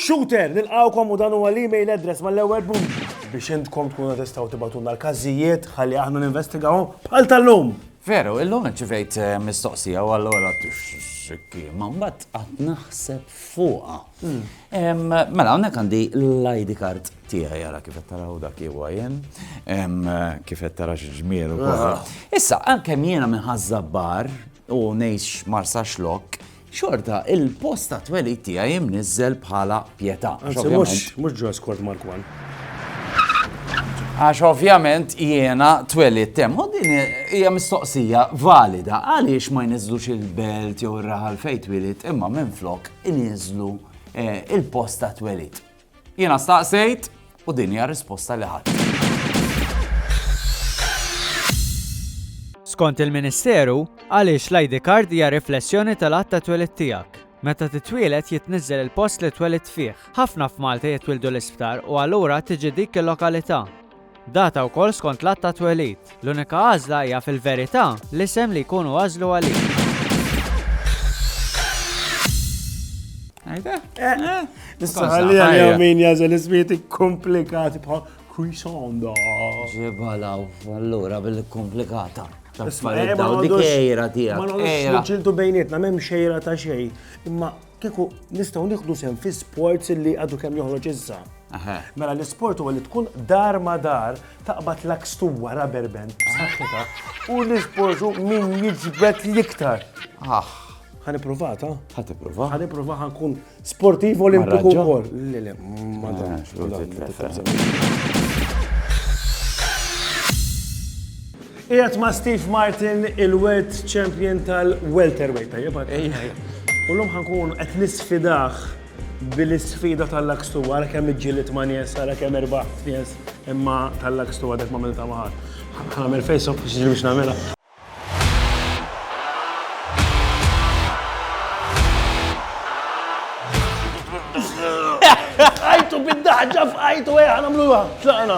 Shooter, nilqawkom u dan huwa l-email address mal-ewwel punt biex intkom tkunu tistgħu tibatulna l-każijiet ħalli aħna ninvestigawhom bħal tal-lum. Veru, illum ċivejt eh, mistoqsija u allura t-xikki, ma mbatt għat naħseb fuqa. Mela, hawnhekk għandi l-ID card tiegħi jara kif qed taraw dak huwa jien, kif qed tara xi ġmiel ukoll. Ah. Issa, għalkemm jiena minn ħażabbar u ngħix marsa xlok, xorta il-post ta' twelid tiegħi imniżżel bħala pjetà. Mhux ġo skort Markwan. Għax ovvjament jiena twelid tem, u din hija mistoqsija valida għaliex ma jniżlux il-belt jew ir-raħal fejn twilid imma minn flok ininżlu il-post ta' twelid. Jiena staqsejt u din hija risposta li ħadd. Skont il-Ministeru, għaliex l-ID card hija riflessjoni tal-għadd ta' twelid tiegħek. Meta titwieled jitniżżel il-post li twelidt fih. Ħafna f'Malta jitwieldu l-isptar u allura tiġi dik il-lokalità. Data wkoll skont l-att ta' twelid. L-unika għażla hija fil-verità l-isem li jkunu għażlu għalik. Għajda? Eh, eh. Issa ħalli għal min jażel ismieti komplikati bħal Crisonda. Ġibalaw, allura bil-komplikata. Isma' dik ejra tiegħek. Ma nħossx bejnietna, m'hemm xejra ta' xejn. Imma Kieku nistgħu nieħdu sehem fi sports li għadu kemm joħroġ issa. Mela l-isport huwa li tkun dar ma dar taqbad l-akstuwa rubber band b'saħħitha u l-isportu min jiġbed l-iktar. Ah. Ħani provata? Ħati prova. Ħani prova ħankun sportiv olimpiku wkoll. Le, le, ma tantx. Qiegħed ma' Steve Martin, il-World Champion tal-Welterweight, tajjeb għad? Ejja, ejja. U l-lum ħankun qed nisfidah bil-sfida tal-lakstu, għara kemm iġġilit ma' nies, għara kemm erbaħ nies, imma tal-lakstu għadek ma' milta maħar. Għamil fejsok biex ġil biex namela. Għajtu bid-daħġa f'għajtu għajħan għamlu għa, tlaqna.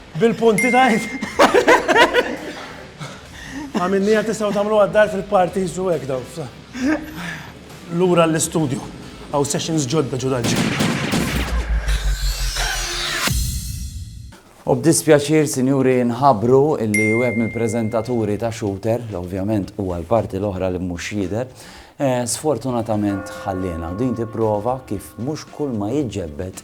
Bil-punti tajt. Għamilnija tistaw tamlu għaddar fil-parti jizzu għek daw. Lura l-studio, għaw sessions ġodda ġudanġi. U b'dispjaċir, sinjuri, nħabru illi web mill-prezentaturi ta' shooter, ovvjament u għal-parti l-oħra li mhux jider, eh, sfortunatament ħallina u din tipprova kif mhux kull ma jiġġebbet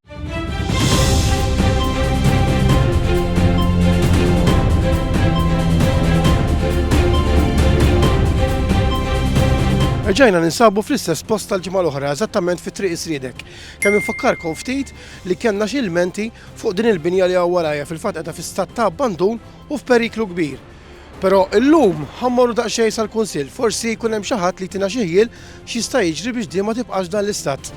Reġajna ninsabu fl-istess post tal-ġimgħa l-oħra, eżattament fi triq isridek. Kemm infakkarkom ftit li kellna xi ilmenti fuq din il-binja li hawn warajja fil-fatt qiegħda fi stat ta' abbandun u f'periklu kbir. Però illum ħa mmorru daqsxejn sal-Kunsill, forsi jkun hemm xi ħadd li jtina xi ħjiel x'jista' jiġri biex din ma tibqax f'dan l-istat.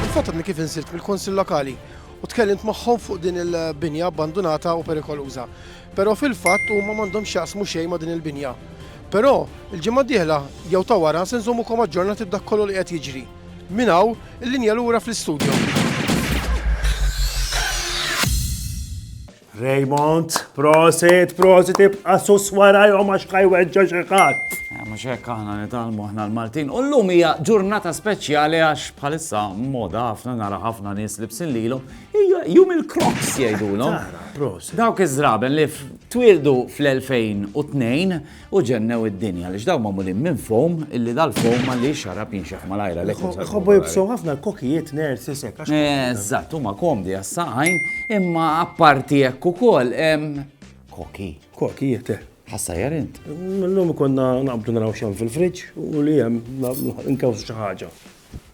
Fil-fatt għadni kif insilt mill-Kunsill Lokali u tkellimt magħhom fuq din il-binja abbandunata u perikoluża. Però fil-fatt huma m'għandhom x'jaqsmu xejn ma' din il-binja. Però, il-ġimgħa d-dieħla jew ta' wara se nżommukom aġġornati b'dak kollu li qed jiġri. Minn hawn, il-linja lura fl-istudjo. Raymond, prosit, prosit, ibqa' sus warajhom għax kaj weġġa' xi ħadd. Eh, mhux hekk aħna nitalmu aħna l-Maltin. U llum hija ġurnata speċjali għax bħalissa moda ħafna nara ħafna nies libsin lilhom. Hija jum il-Crocs jgħidulhom. Dawk iż-żraben li twildu fl-2002 U ġennew id-dinja għaliex dawn magħmulin minn foam illi dal-foam għaliex xarab jinxef malajr għalhekk. Ħobbu jibsu ħafna l-kokijiet nerds isek. Eżatt, huma komdi għas-saqajn imma apparti hekk ukoll koki. Kokijiet, eh. Ħassa jarint. L-lum konna naqbdu naraw xem fil-friġġ u li hemm nkewsu xi ħaġa.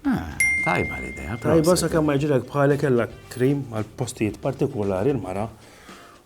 Ah, tajba l-idea. Tajba sa kemm ma jġilek bħalek kellha krim għal postijiet partikolari l-mara